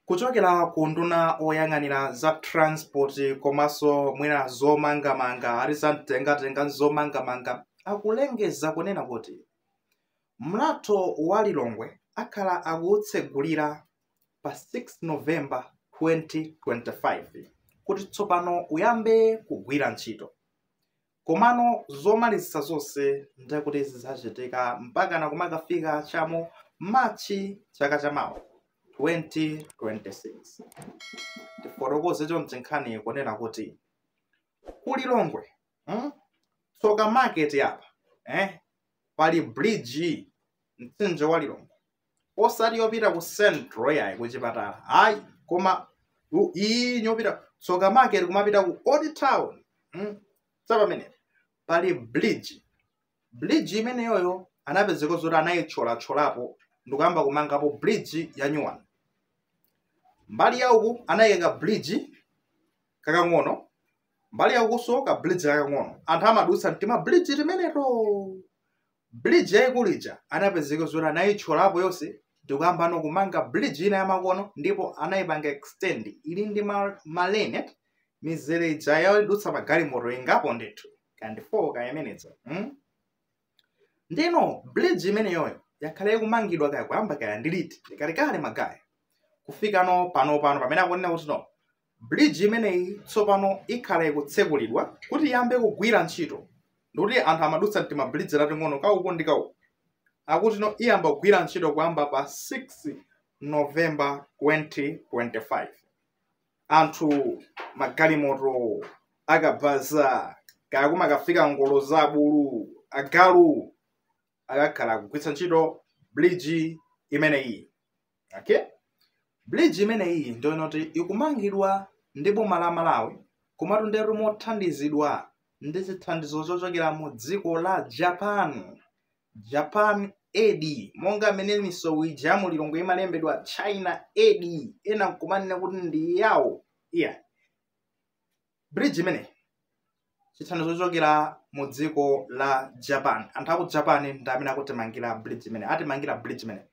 Kuchokera ku nduna oyang'anira za transport komanso mwina zomangamanga a za mtengatenga ndi zomangamanga akulengeza kunena kuti mlatho wa Lilongwe akhala akuutsegulira pa 6 November 2025 kuti tsopano uyambe kugwira ntchito. komano zomalizitsa zonse ndekuti zidzachitika mpakana kumakafika chamu machi chaka chamawa 2026 tifotokoze chonchi nkhani kunena kuti ku Lilongwe hmm? tsoka market apa eh? pali bridge mtsinje wa lilongwe osati yopita ku central yayi kuchipatala ayi koma iyi yopita tsoka market kumapita ku old town mm? so pamenepo pali bridge bridge imeneyoyo anapezeka zoti anayitcholatcholapo ndikuyamba kumangapo bridge ya new one mbali ya uku anayika bridge kakang'ono mbali ya ukunso ka bridge kakang'ono anthu amadutsa mtima bridge timeneto Bridge yaikulu ija anapezeka zoti anaitcholapo yonse ndikuyambano kumanga bridge ina yamakono ndipo anaipanga extend ili ndi ma, ma lane eti mizere ija yodutsa magalimoto ingapo ndithu kaya ndi 4 kaya imeneyo mm? ndiyeno bridge imeneyoyo yakhala ikumangidwa kaya kuyamba kaya ndi liti ndi kalekale man guyz kufika no pano pano pamene akunena kuti no Bridge imeneyi tsopano ikhala ikutsekulidwa kuti iyambe kugwira ntchito ndikuti anthu amadutsa mtima bridge tating'ono ka uku ndi ka uku akuti no iyamba kugwira ntchito kuyamba pa 6 November 2025 anthu magalimoto akabaza kaya kumakafika ngolo za abulu agalu akakhala akugwiritsa ntchito bridge imeneyi okay bridge imeneyi ndi yoonadi kuti ikumangidwa ndi boma la malawi komatu ndiye kuti mothandizidwa ndi chithandizo chochokera mu dziko la japan japan aid monga amene misewu ija ya mu lilongwe imalembedwa china aid ena nkumanena kuti ndi yawo iyayi bridge imeneyi chithandizo chochokera mu dziko la japan anthu aku japan ndi amene akutimangira bridge imeneyi atimangira bridge imeneyi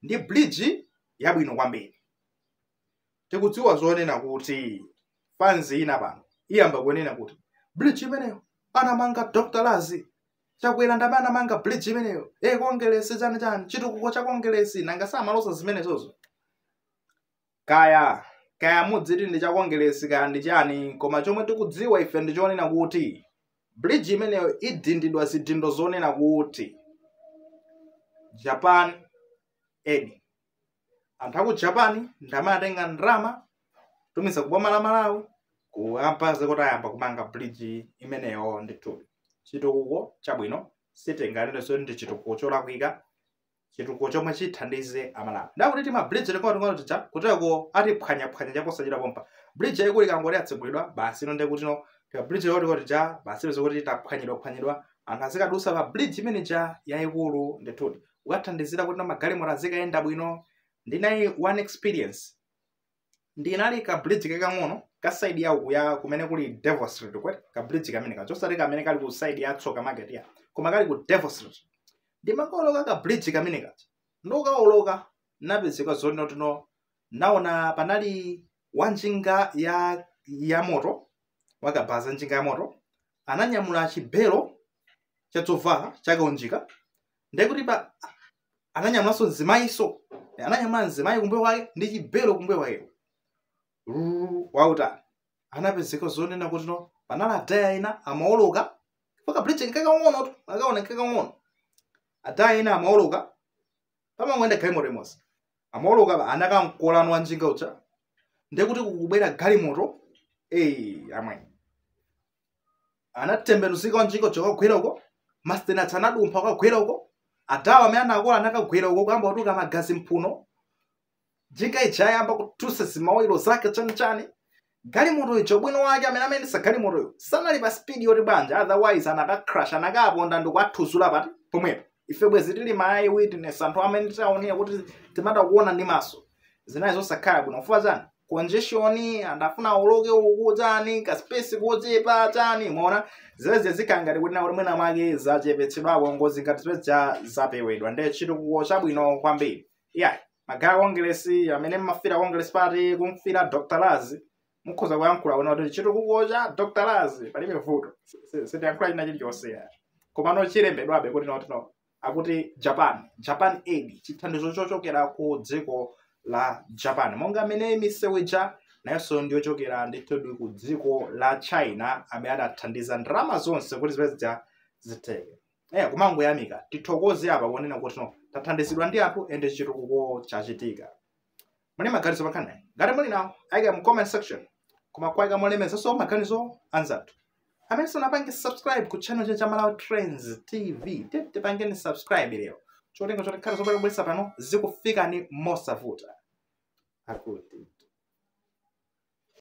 ndi bridge yabwino kwambiri tikudziwa zonena kuti fans ina pano iyamba kunena kuti bridge imeneyo anamanga dr laz chakwera ndi amene anamanga bridge imeneyo e kongelesi chani chani chitukuko cha kongelesi nanga samaloza zimenezozo kaya kaya mudziti ndi cha kongeresi kaya ndi chani koma chomwe tikudziwa ife ndi chonena kuti bridge imeneyo idindidwa zidindo zonena kuti japan eni anthu aku japan ndamene atenga ndalama kutumiza ku boma la malawi kuapatsa kuti ayambe kumanga bridge imeneyo ndithu chitukuko chabwino sitinganene zoti ndi chitukuko cholakwika chitukuko chomwe chithandize amalawi ndakuti timabridge ting'onoting'ono tija kuteko atiphwanyaphwanya chaposachedwa pompa bridge yaikulu ikangoti yatsegulidwa basi ino ndekutino timabridge ting'onoting'ono tija basi izo kuti taphwanyidwaphwanyidwa anthu azikadusa pa bridge imene ija yaikulu ndithudi ikathandizira kuti magalimoto azikayenda bwino ndinali ndi one experience ndinali pa bridge kakang'ono ka side ya uku ya kumene kuli devil street kwete ka bridge kamene kaja osati kamene kali ku side ya tsoka market ya koma kali ku devil street ndimakawoloka ka bridge kamene kaja nditakawoloka napezeka zonena kuti no naona panali wanjinga ya ya moto wakabaza njinga ya moto ananyamula chibelo cha zovala chakaunjika ndekuti pa ananyamulanso mzimayiso ananyamula mzimayi kumbuyo kwake ndi chibelo kumbuyo kwake ulendo wautali anapezeka zonena kuti no panali adala ena amaoloka paka bridge nkakang'onotu akaona nkakang'ono adala ena amaoloka pamangoenda galimoto imodzi amaoloka pa anakamkola no wa njinga uja ndekuti kukubwera galimoto eyi amwe anatembenuzika njinga ija kukagwera uko mastenats anadumpha kukagwera uko adala amene anakola anakagwera uko kuyamba kutuluka magazi mphuno njinga ija ayamba kuthyoka zimawilo zake chanichani galimoto ija ubwino wake amene amayendetsa galimotoyo sanali pa spidi yoti bwanja otherwise anakacrush anakaponda ndikuathudzula paja pomwepo ife bwezi tili ma eye witness anthu amene taonera kuti zimatha kuona ndi maso zinali zosakhala bwino chifukwa chani congestion anthu afuna awoloke uku chani ka space kochepa chani ndiye zimenezi zikhala ngati kuti nakuti mwina mwake zachepetsedwako ngozi ngati zimenezo zapewedwa nde chitukuko chabwino kwambiri yeah magaye kongresi amene mmafira kongresi party kumfira dr lazi mukhoza kuyankhula kunena kuti chitukuko cha dr lazi palibe vuto Si- si- sitiyankhula china chilichonse ya komano chilembedwabe kuti no no akuti japan japan aid chithandizo chochokera ku dziko la japan monga mmene misewu ija nayonso ndiyochokera ndithudi ku dziko la china amene adathandiza ndalama zonse kuti zimene zija zitheke eh kumangoyamika tithokoze apa kunena kuti tathandizidwa ndi anthu ende chitukuko chachitika muli maganizo pankhaniyi ngati muli nawo ayikeni mu comment section koma kuwayika molemekezanso maganizo anzathu amene sanapange subscribe ku channel chi cha Malawi trends tv tipangeni subscribe lero cholinga choti nkhani zomwe tikubweretsa pano zikufikani mosavuta akuti